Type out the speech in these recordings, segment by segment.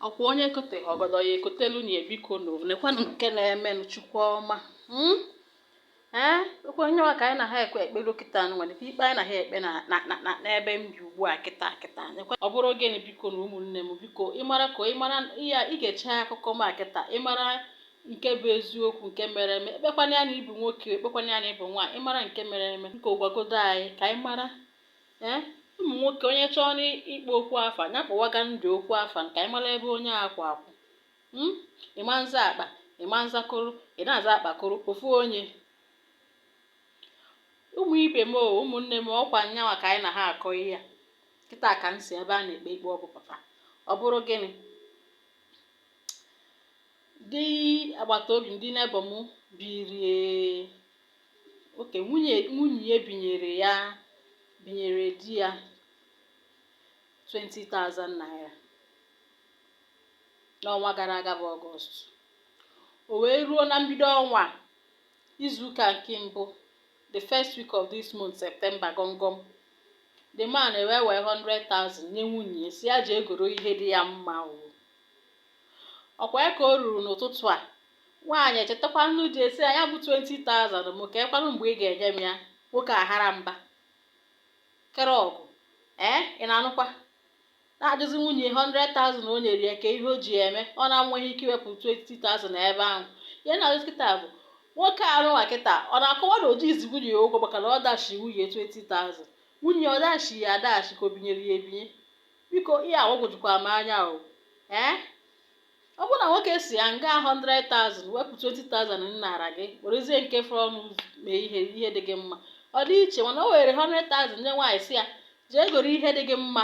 ọkwa onye ekoteghị ọgọdọ ya ekotelu nya bikonu nekwanụ nke na-emenụ chukwu ọma hmm? ee ọkwa nyanwa ka anyị na ha ekwe ekpere kịta nwa nekwa ikpe anyị na ha ekpe n'ebe m bi ugbu a kịta kịta ọ bụrụ gịnị biko na ụmụnne m biko ị mara ka ị mara ya ị gechaa akụkọ m a kịta ị mara nke bụ eziokwu nke mere eme ekpekwana ya na ị bụ nwoke ekpekwana ya na ị bụ nwaanyị ị mara nke mere eme biko gwagodo anyị ka anyị mara ee eh, ụmụ nwoke onye chọọ n'ịkpọ okwu afa ya kpọwaga ndụ okwu afa ka anyị mara ebe onye akwụ akwụ hmm? ị ma nza akpa ị ma nza koro ị na-aza akpakoro ofu onye ụmụ ibe m ụmụnne m ọkwa nyanwa ka anyị na ha akọ ihe a kịta ka m si ebe a na-ekpe ikpe ọ bụ pụta ọ bụrụ gịnị ndị agbata obi ndị neighbour m biri nwoke nwunye nwunye ya binyere ya binyere di ya 20,000 naira n'ọnwa gara aga bụ ọgọst o wee ruo na mbido ọnwa izuụka nke mbụ the first week of this month September gọngọm the man ewee wee 100,000 nye nwunye sị ya jee goro ihe dị ya mma o ọkwa ya ka o ruru n'ụtụtụ a nwaanyị echetakwanụ di ya sị ya nya bụ 20,000 m keekwanụ mgbe ị ga-enye m ya nwoke ahara mba kere ọgụ ee ị na-anụkwa na-ajụzi nwunye 100,000 o nyere ya kee ihe o ji ya eme ọ na-enweghị ike iwepụ 20,000 ebe ahụ ihe na-ajụ kịta bụ nwoke anụwa kịta ọ na-akọwa na o jiizi nwunye ya ụgwọ maka na ọ dashi nwunye 20,000 nwunye ọ dashi ya adashi ka o binyere ya ebinye biko ihe a gbagwojukwara m anya o ee ọ bụrụ na nwoke sị ya nga 100,000 wepụ 20,000 m nara gị werezie nke fọrọnụ mee ihe ihe dị gị mma ọ dị iche mana o were 100,000 nye nwaanyị sị ya jee goro ihe dị gị mma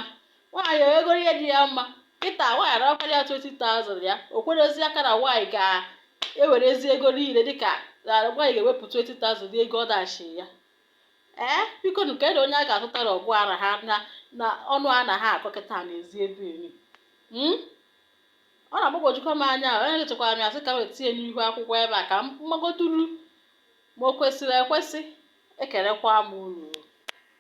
nwaanyị egoro ihe dị ya mma kịta nwaanyị anakwara ya 20,000 ya o kwedozi aka na nwaanyị ga-ewerezi ego niile dịka na nwaanyị ga-ewepụ 20,000 ego ọ dashi ya ee bikonu kedu onye a ga-azụtara ọgwụ ara ha na na ọnụ a na ha akọ kịta n'ezi ebe eri Mm? ọ na-agbagwojukwa m anya ahụ onye chekwara m ya sị ka m wee tinye n'ihu akwụkwọ ebe a ka m magoduru ma o kwesịrị ekwesị ekelekwa m unu